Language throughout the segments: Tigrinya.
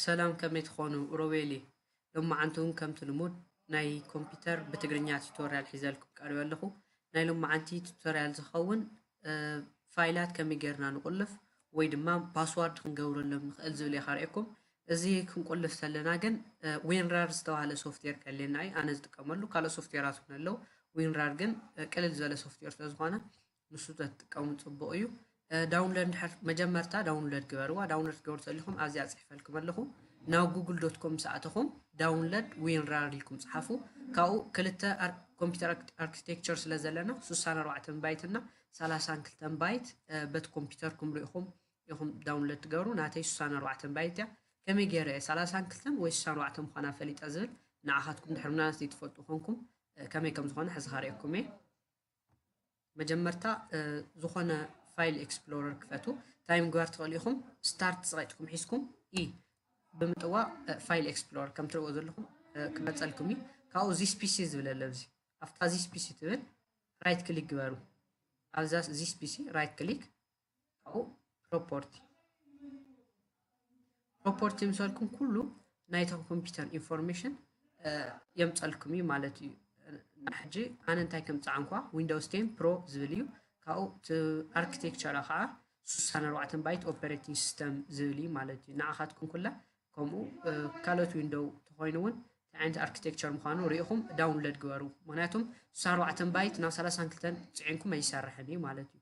ሰላም ከመይ ትኾኑ ሮቤል እየ ሎማዓንቲ ውን ከምቲ ልሙድ ናይ ኮምፒተር ብትግርኛ ቲቶርያል ሒዘልኩም ቀሪበ ኣለኹ ናይ ሎማዓንቲ ቲቶርያል ዝኸውን ፋይላት ከመይ ጌርና ንቑልፍ ወይ ድማ ፓስዋርድ ክንገብረሎም ንኽእል ዝብል እየ ካርእየኩም እዚ ክንቁልፍ ዘለና ግን ዊንራር ዝተባሃለ ሶፍትዌር ከልየና እዩ ኣነ ዝጥቀመሉ ካልኦት ሶፍትዌራት እውን ኣለዉ ዊንራር ግን ቅልል ዝበለ ሶፍትዌር ስለዝኾነ ንሱ ተትጥቀሙ ጽቡቕ እዩ ዳውንሎድ እንድሕር መጀመርታ ዳውንሎድ ግበርዋ ዳውንሎድ ክትገብሩ ተሊኹም ኣብዚኣ ጽሒፈልኩም ኣለኹ ናብ ጉግል ዶት ኮም ምስ ኣተኹም ዳውንሎድ ዊንራር ኢልኩም ጽሓፉ ካብኡ ክልተ ኮምፒተር ኣርኪቴክቸር ስለ ዘለና 64 ባይት እና 32 ባይት በቲ ኮምፒተርኩም ርኢኹም ኢኹም ዳውንሎድ ትገብሩ ናተይ 64 ባይት እያ ከመይ ገይረ 32 ወይ 64 ምዃና ፈሊጠ ዝብል ንዓኻትኩም ድሕሪ ምናልባት ዘይትፈልጡ ኮንኩም ከመይ ከም ዝኾነ ሕዚ ኸርእየኩም እየ መጀመርታ ዝኾነ ፋይል ኤክስፕሎረር ክፈቱ እንታይ ምግባር ትኽእሉ ኢኹም ስታርት ፀቂጥኩም ሒዝኩም ኢ ብምጥዋቕ ፋይል ኤክስፕሎረር ከም ትርእዎ ዘለኹም ክመፀልኩም እዩ ካብኡ ዚስ ፒሲ ዝብል ኣሎ እዚ ኣብታ ዚስ ፒሲ ትብል ራይት ክሊክ ግበሩ ኣብዛ ዚስ ፒሲ ራይት ክሊክ ካብኡ ፕሮፖርቲ ፕሮፖርቲ ምሰልኩም ኩሉ ናይቶም ኮምፒውተር ኢንፎርሜሽን የምፀልኩም እዩ ማለት እዩ ሕጂ ኣነ እንታይ ከም ፃዕንኳ ዊንዶውስ ቴን ፕሮ ዝብል እዩ ካብኡ እቲ ኣርኪቴክቸራ ከዓ ስሳን ኣርባዕተን ባይት ኦፐሬቲንግ ሲስተም ዝብል እዩ ማለት እዩ ንዓኻትኩም ኩላ ከምኡ ካልኦት ዊንዶው ተኮይኑ እውን እንታይ ዓይነት ኣርኪቴክቸር ምዃኑ ርኢኹም ዳውንሎድ ግበሩ ምክንያቱም ስሳ ኣርባዕተን ባይት ናብ ሰላሳን ክልተን ፅዒንኩም ኣይሰርሕን እዩ ማለት እዩ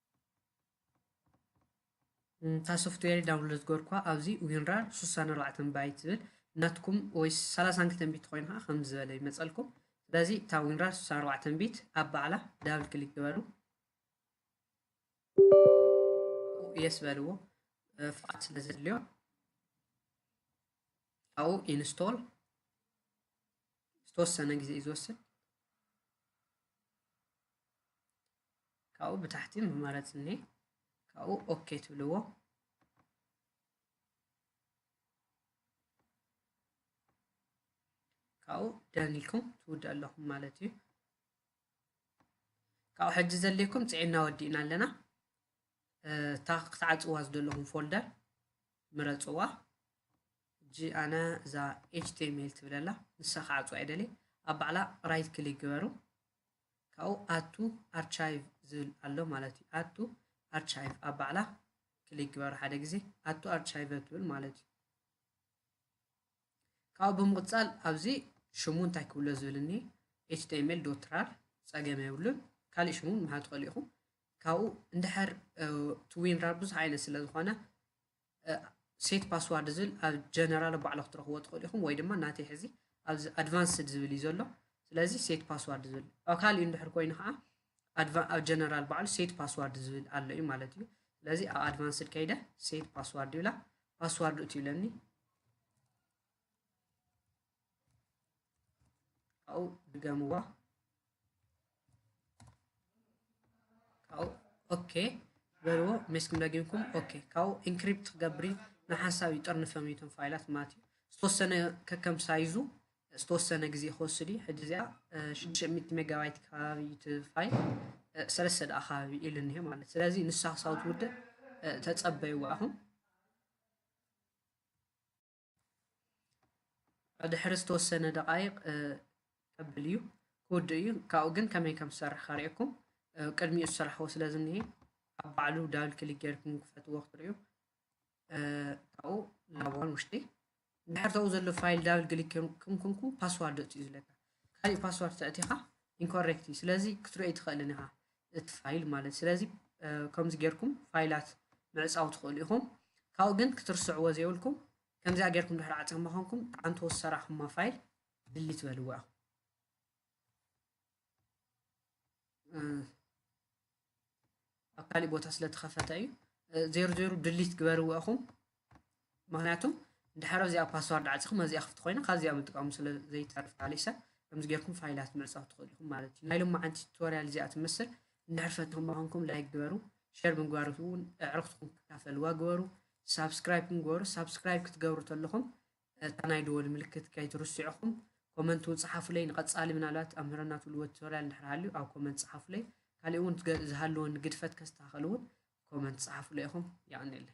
እታ ሶፍትዌር ዳውንሎድ ዝገርኳ ኣብዚ ዊንራር 64 ባይት ዝብል ናትኩም ወይ 32 ቢት ኮይኑ ከዓ ከምዚ ዝበለ ይመፀልኩም ስለዚ እታ ዊንራር 64 ቢት ኣብ ባዕላ ዳብል ክሊክ ግበሩ የስ በልዎ ፍቃድ ስለ ዘድልዮ ካብኡ ኢንስቶል ዝተወሰነ ግዜ እዩ ዝወስድ ካብኡ ብታሕቲ መማረፂ እኒሄ ካብኡ ኦኬ ትብልዎ ካብኡ ደን ኢልኩም ትውድእ ኣለኹም ማለት እዩ ካብኡ ሕጂ ዘድልየኩም ፅዒና ወዲእና ኣለና እታ ክትዓፅዋ ዝደለኹም ፎልደር ምረፅዋ ሕጂ ኣነ እዛ ኤችቲኤምኤል ትብለላ ንሳ ክዓፅዋ ይደልየ ኣብ ባዕላ ራይት ክሊክ ግበሩ ካብኡ ኣድ ቱ ኣርቻይቭ ዝብል ኣሎ ማለት እዩ ኣድ ቱ ኣርቻይቭ ኣብ ባዕላ ክሊክ ግበሩ ሓደ ግዜ ኣድ ቱ ኣርቻይቭ ትብል ማለት እዩ ካብኡ ብምቕፃል ኣብዚ ሽሙ እንታይ ክብሎ ዝብል እኒ ኤችቲኤምኤል ዶት ራር ፀገም የብሉን ካልእ ሽሙ ምሃብ ትኽእሉ ኢኹም ካብኡ እንድሕር ትዊን ራር ብዙሕ ዓይነት ስለ ዝኾነ ሴት ፓስዋርድ ዝብል ኣብ ጀነራል ባዕሉ ክትረኽቦ ትኽእሉ ኢኹም ወይ ድማ ናተይ ሕዚ ኣብዚ ኣድቫንስድ ዝብል እዩ ዘሎ ስለዚ ሴት ፓስዋርድ ዝብል ኣብ ካልእ እንድሕር ኮይኑ ከዓ ኣብ ጀነራል ባዕሉ ሴት ፓስዋርድ ዝብል ኣሎ እዩ ማለት እዩ ስለዚ ኣብ ኣድቫንስድ ከይደ ሴት ፓስዋርድ ይብላ ፓስዋርድ እቲ ይብለኒ ካብኡ ድገምዋ ካብኡ ኦኬ በልዎ ሜስኩም ደጊምኩም ኦኬ ካብኡ ኢንክሪፕት ክገብር እዩ ንሓንሳብ ይጠርንፈም እዩቶም ፋይላት ማለት እዩ ዝተወሰነ ከከም ሳይዙ ዝተወሰነ ግዜ ክወስድ እዩ ሕጂ እዚኣ 600 ሜጋባይት ከባቢ እቲ ፋይል ሰለስተ ደኣ ከባቢ ኢሉ እኒሀ ማለት ስለዚ ንሳ ክሳብ ትውድእ ተፀበይዋ ኢኹም ድሕሪ ዝተወሰነ ደቃይቅ ከብል እዩ ክውድእ እዩ ካብኡ ግን ከመይ ከም ዝሰርሕ ከርእየኩም ቅድሚኡ ዝሰራሕዎ ስለ ዝኒሀ ኣብ ባዕሉ ዳብል ክሊክ ጌርኩም ክፈትዎ ክትርእዩ ካብኡ ላዋን ውሽጢ ድሕር ተኡ ዘሎ ፋይል ዳብል ክሊክ ጌርኩም ኩንኩም ፓስዋርድ እትዩ ዝለካ ካልእ ፓስዋርድ ተእቲኻ ኢንኮሬክት እዩ ስለዚ ክትርእይ ትኽእልን ኢኻ እቲ ፋይል ማለት ስለዚ ከምዚ ጌርኩም ፋይላት ምዕፃው ትኽእሉ ኢኹም ካብኡ ግን ክትርስዕዎ ዘይብልኩም ከምዚኣ ጌርኩም ድሕሪ ዓፀማ ኮንኩም ኣንተ ወሰራኹማ ፋይል ድሊት በልዎ ኢኹም ኣብ ካሊእ ቦታ ስለተኸፈተ እዩ ዜሩ ዜሩ ድሊት ግበርዎ ኢኹም ምክንያቱ ድሓር ኣብዚኣ ፓስዋርድ ዓጺኹም ኣብዚኣ ክፍቲ ኮይና ካብዚኣ ምጥቃሙ ስለ ዘይተርፍ ኣሊሳ ከምዚ ጌርኩም ፋይላት ምዕጻው ትኽእሉ ኢኹም ማለት እዩ ናይ ሎማዓንቲ ቱቶርያል እዚኣ ትመስል እንድሕር ፈትኹም ምኾንኩም ላይክ ግበሩ ሸር ምግባር እውን ኣዕርኽትኩም ክካፈልዋ ግበሩ ሳብስክራይብ ግበሩ ሳብስክራይብ ክትገብሩ ተለኹም እታ ናይ ደወል ምልክት ከይትርስዑኹም ኮመንት እውን ፀሓፉለይ ንቐፃሊ ምናልባት ኣምህረና ትብልዎ ቱቶርያል እንድሕር ሃልዩ ኣብ ኮመንት ፀሓፉለይ ካልእ እውን ዝሃለወኒ ግድፈት ከስተኻኸል እውን ኮመንት ፀሓፉለይ ኢኹም የቐኒለይ